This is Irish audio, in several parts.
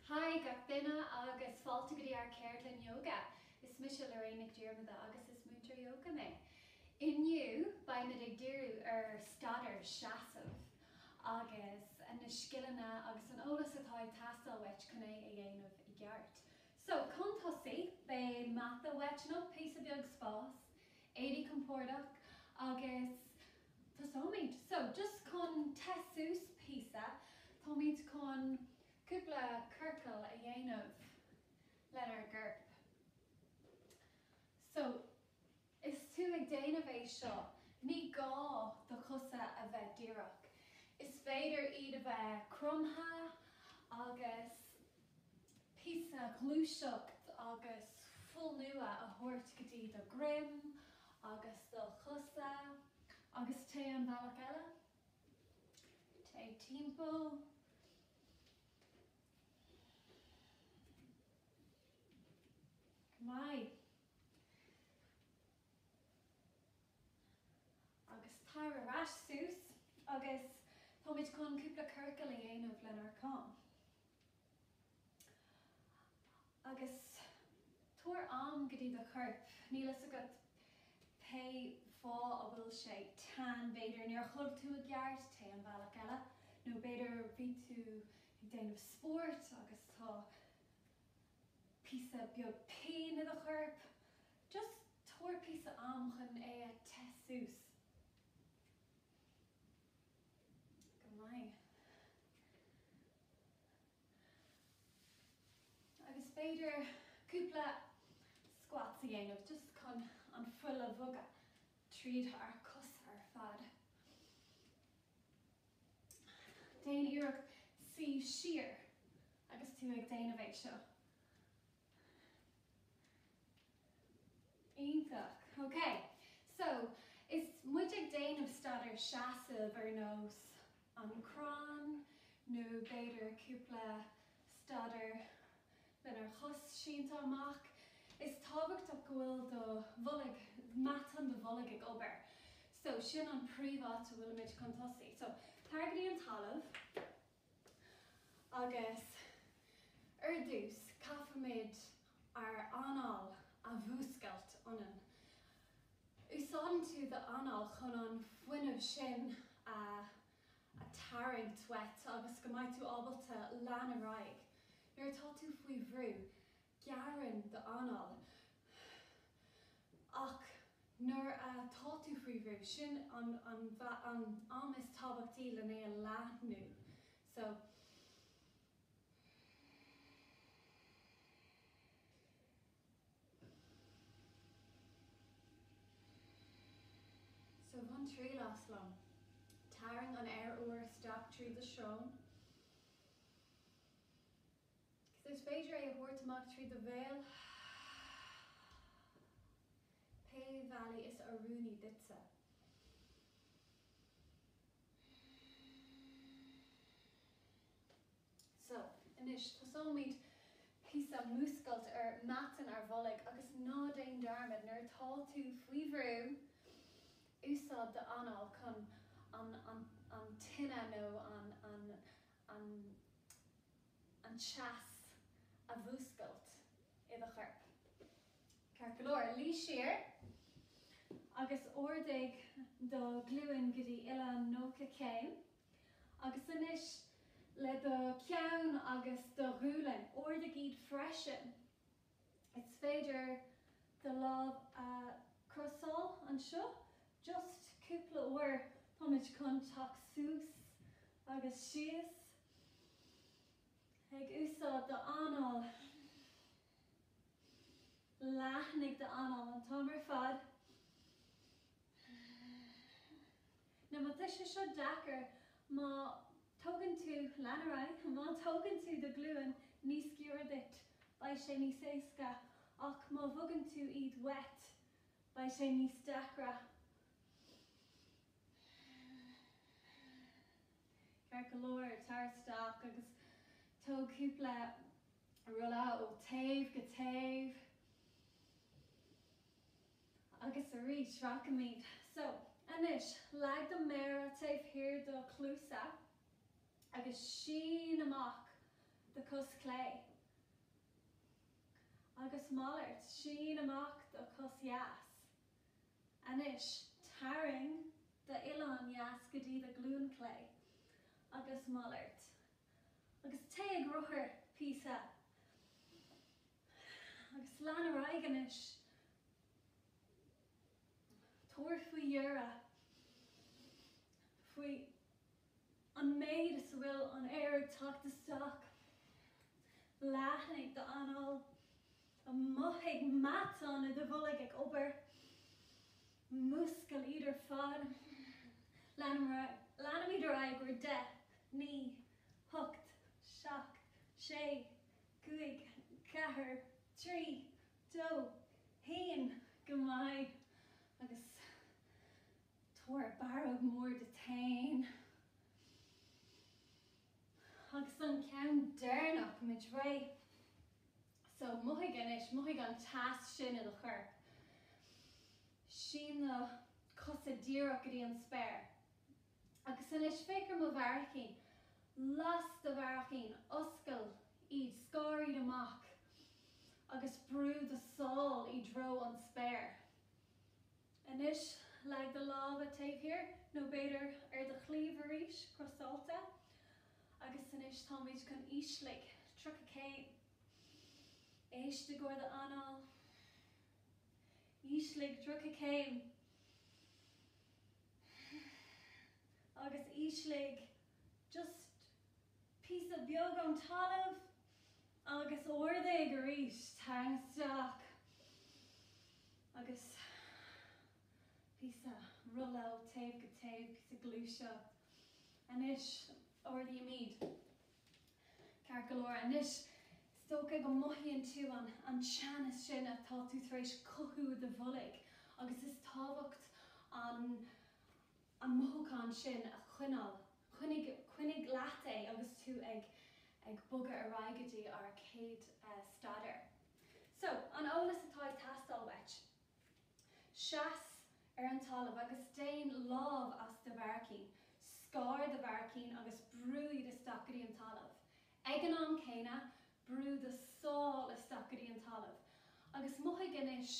Haigh gach duine agus fáilte go dtí ár ceardlann Yoga. Is mise Lorraine Nic Dhiarmada agus is múinteoir Yoga mé. Inniu beimid ag díriú ar staidiúir seasamh agus na scileanna agus an eolas atá ag teastáil uait chun é a dhéanamh i gceart. So, chun tosaigh, beidh mata uait nó píosa beag spás. Éirigh compordach agus tosóimid. So, just chun te suas píosa, táimid chun cúpla ciorcal a dhéanamh lenár gcorp. So, is tú ag déanamh é seo, ní gá do chosa a bheith díreach. Is féidir iad a bheith cromtha agus. píosa gluaiseacht agus fuil nua a thabhairt go dtí do dhroim agus do chosa agus téigh an bealach eile, téigh timpeall. Go maith. agus tar ar ais suas agus táimid chun cúpla ciorcal a dhéanamh lenár gcom agus tabhair am go dtí do chorp, níl a fhios agat pé fáth a bhfuil sé teann, b'fhéidir níor chodail tú i gceart, téigh an bealach eile nó b'fhéidir bhí tú ag déanamh spóirt agus tá. píosa beag péin i do chorp, just tabhair píosa am chun é a te suas. Go maith. Agus b'fhéidir cúpla squats a dhéanamh just chun an fuil a bhogadh tríd ár cosa ar fad. Déan iarracht suí siar agus tú ag déanamh é seo. Iontach. Ok. So, is muid ag déanamh staidiúir seasaimh ar nós an crann nó b'fhéidir cúpla staidiúir lenár gcos sínte amach, is tábhachtach go bhfuil do bholg, matáin do bholg ag obair. So, sin an príomháit a bhfuilimid chun tosaigh. So, tar go dtí an talamh agus ar dtús caithfimid ár anáil a mhúscailt ionainn. Úsáideann tú d'anáil chun an fuinneamh sin a. a tharraingt uait agus go mbeidh tú ábalta leanúint ar aghaidh nuair atá tú faoi bhrú, gearrann d'anáil ach nuair atá tú faoi bhrú, sin an t-am is tábhachtaí lena é a leathnú. So. So bain triail as, long, tarraing an aer úr isteach trí do shrón agus is féidir é a thabhairt amach trí do bhéal, pé bealach is oiriúnaí duitse. So, anois, tosóimid píosa múscailt ar mheatáin ár mbolg agus ná déan dearmad, nuair atá tú faoi bhrú, úsáid d'anáil chun an, an, an tine nó an, an, an, an teas a mhúscailt i do chorp. Ceart go leor, luí siar agus ardaigh do ghlúin go dtí uillinn 90 céim. Agus anois, le do cheann agus do ghualainn, ardaigh iad freisin. Is féidir do lámha a chrosáil anseo, just cúpla uair, táimid chun teacht suas agus síos, ag úsáid do anáil. Leathnaigh do anáil an t-am ar fad. Nó má tá sé seo deacair, má thógann tú, lean ar aghaidh, má thógann tú do ghlúin níos giorra duit, beidh sé níos éasca, ach má bhogann tú iad uait, beidh sé níos deacra. Ceart go leor, tar isteach agus tóg cúpla rolla ó taobh go taobh. agus arís, rachaimid so anois, leag do méara taobh thiar do chluasa agus sín amach do chos chlé, agus malairt, sín amach do chos dheas. Anois, tarraing d'uillinn dheas go dtí do ghlúin chlé agus malairt, agus téigh ag rothar píosa Agus lean ar aghaidh anois. Tabhair faoi deara faoi an méid is a bhfuil an aer ag teacht isteach. Leathnaigh d'anáil. Mothaigh na matáin i do bholg ag obair. Múscail iad ar fad. Leanaimid ar aghaidh. Leanaimid ar aghaidh. Deich. Naoi. Hocht. Seacht. Sé. 5 4 3 2 1 Go maith. Agus tabhair barróg mhór duit féin. Agus an ceann deireanach, táimid réidh. So, mothaigh anois, mothaigh an teas sin i do chorp. Sín na cosa díreach go dtí an spéir. Agus anois, féach ar mo bharraicín. Las do bharraicín, oscail iad, scar iad amach agus brú do sál i dtreo an spéir. Anois, leag do lámha taobh thiar, nó b'fhéidir ar do chliabh arís, crosáilte. Agus anois táimid chun ísligh, 30 céim. Éist i gcomhair do anáil. Ísligh, 30 céim. agus ísligh just píosa beag ón talamh agus ardaigh arís tarraing isteach agus píosa roll out taobh go taobh píosa gluaiseacht anois ardaímid. Ceart go leor, anois is dócha go mothaíonn tú an an teas sin atá tú tar éis cothú i do bholg agus is tábhacht an an mothúchán sin a choinneáil. Coinnigh coinnigh leat é agus tú ag ag bogadh ar aghaidh go dtí ár céad staidéar. So, an eolas atá ag teastáil uait. Seas ar an talamh agus déan lámh as do bharraicín, scar do bharraicín agus brúigh isteach go dtí an talamh. Ag an am céanna, brúigh do sál isteach go dtí an talamh. Agus mothaigh anois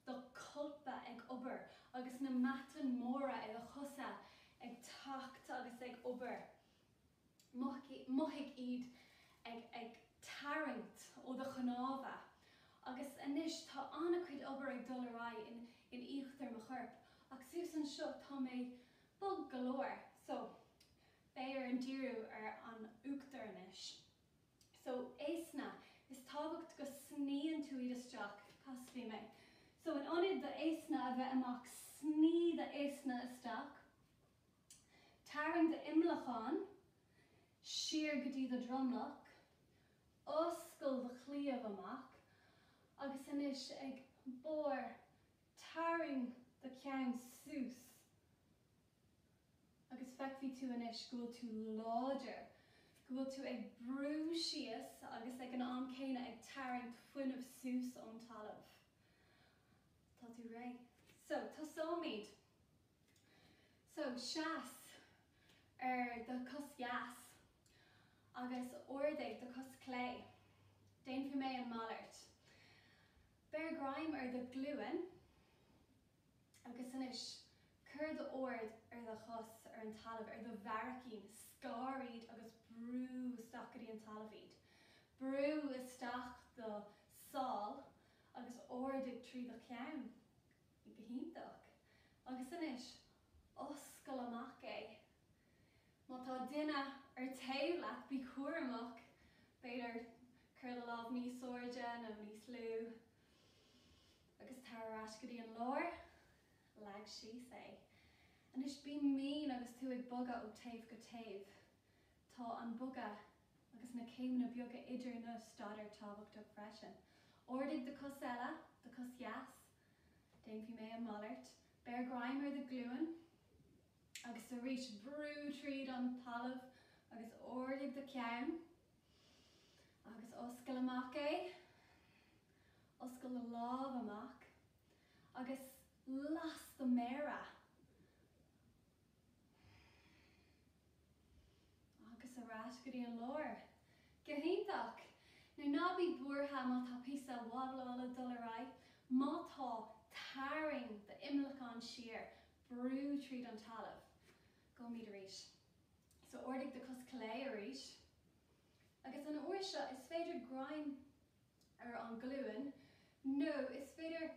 do cholpa ag obair agus na matain móra ag do chosa ag teacht agus ag obair. mothaigh iad ag tarraingt ó do chnámha agus anois tá an-chuid obair ag dul ar aghaidh in íochtar mo choirp ach suas anseo tá mé bog go leor so beidh orm díriú ar an uachtar anois. So easna, is tábhacht go sníonn tú iad isteach, casfaidh mé. So in ionad do easna a bheith amach sní do easna isteach. Tarraing do imleacán siar go dtí do dhromlach, oscail do chliabh amach agus anois ag barr tarraing do ceann suas agus feicfidh tú anois go bhfuil tú láidir, go bhfuil tú ag brú síos agus ag an am céanna ag tarraingt fuinnimh suas ón talamh. Tá tú réidh. So, tosóimid. So, seas ar do chos dheas agus ardaigh do chos chlé. Déanfaidh mé a mhalairt. Beir greim ar do ghlúin agus anois cuir d'aird ar do chos ar an talamh, ar do bharraicín, scar iad agus brú isteach go dtí an talamh iad. Brú isteach do shál agus ardaigh trí do cheann. Go hiontach. Agus anois, oscail amach é. Má tá duine ar taobh leat, bí cúramach, b'fhéidir cuir do lámh níos airde nó níos lú agus tar ar ais go dtí an lár. Leag síos é. Anois bí mín agus tú ag bogadh ó taobh go taobh. Tá an bogadh agus na céimeanna beaga idir na staideanna tábhachtach freisin. Ardaigh do chos eile, do chos dheas. Déanfaidh mé a mhalairt. Beir greim ar do ghlúin agus arís brú tríd an talamh agus ardaigh do cheann agus oscail amach é. Oscail do lámh amach agus las do mhéara. Agus ar ais go dtí an lár. Go hiontach! Now, ná bí buartha má tá píosa wobbleála dul ar aghaidh. Má tá, tarraing do imleacán siar, brú tríd an talamh. Gabhaimid arís. So ardaigh do cos chlé arís. Agus an uair seo is féidir greim ar an ghlúin nó is féidir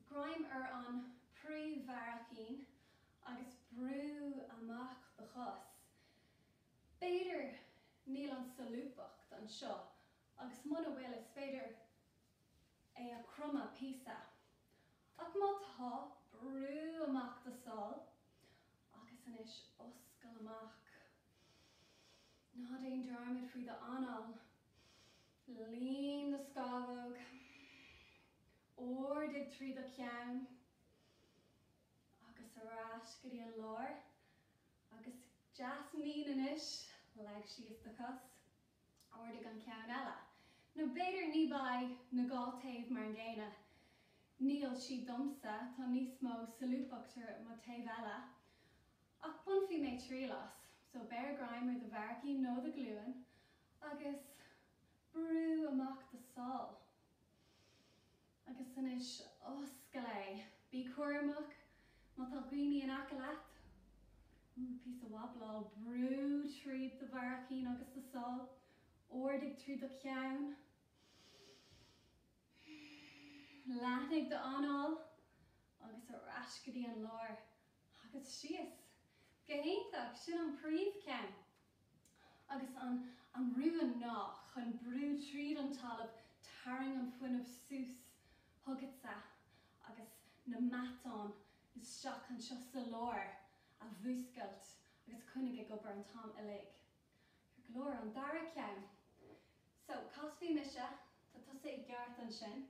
greim ar an bpríomhbharraicín agus brú amach do chos. B'fhéidir níl an solúbthacht anseo agus muna bhfuil is féidir é a chromadh píosa. Ach má tá, brú amach do sál agus anois oscail amach. Ná déan dearmad faoi do anáil. Líon do scamhóg. ardaigh trí do cheann agus ar ais go dtí an lár agus deas mín anois, leag síos do chos, ardaigh an ceann eile nó b'fhéidir ní bheidh na dhá taobh mar an gcéanna, níl siad domsa, tá níos mó solúbthacht ar mo taobh eile ach bainfidh mé triail as, so beir greim ar do bharraicín nó do ghlúin agus brú amach do sál. Agus anois, oscail é! Bí cúramach má tá daoine in aice leat! Ooh, píosa wobbláil, brú tríd do bharraicín agus do sál, ardaigh trí do cheann, leathnaigh d'anáil agus ar ais go dtí an lár agus síos. Go hiontach, sin an príomhcheann. Agus an rún ná chun brú tríd an talamh tarraing an fuinneamh suas chugatsa agus na matáin isteach anseo sa lár a mhúscailt agus coinnigh ag obair an t-am uilig. Ceart go leor, an dara ceann. So, casfaidh mise, tá tusa i gceart ansin.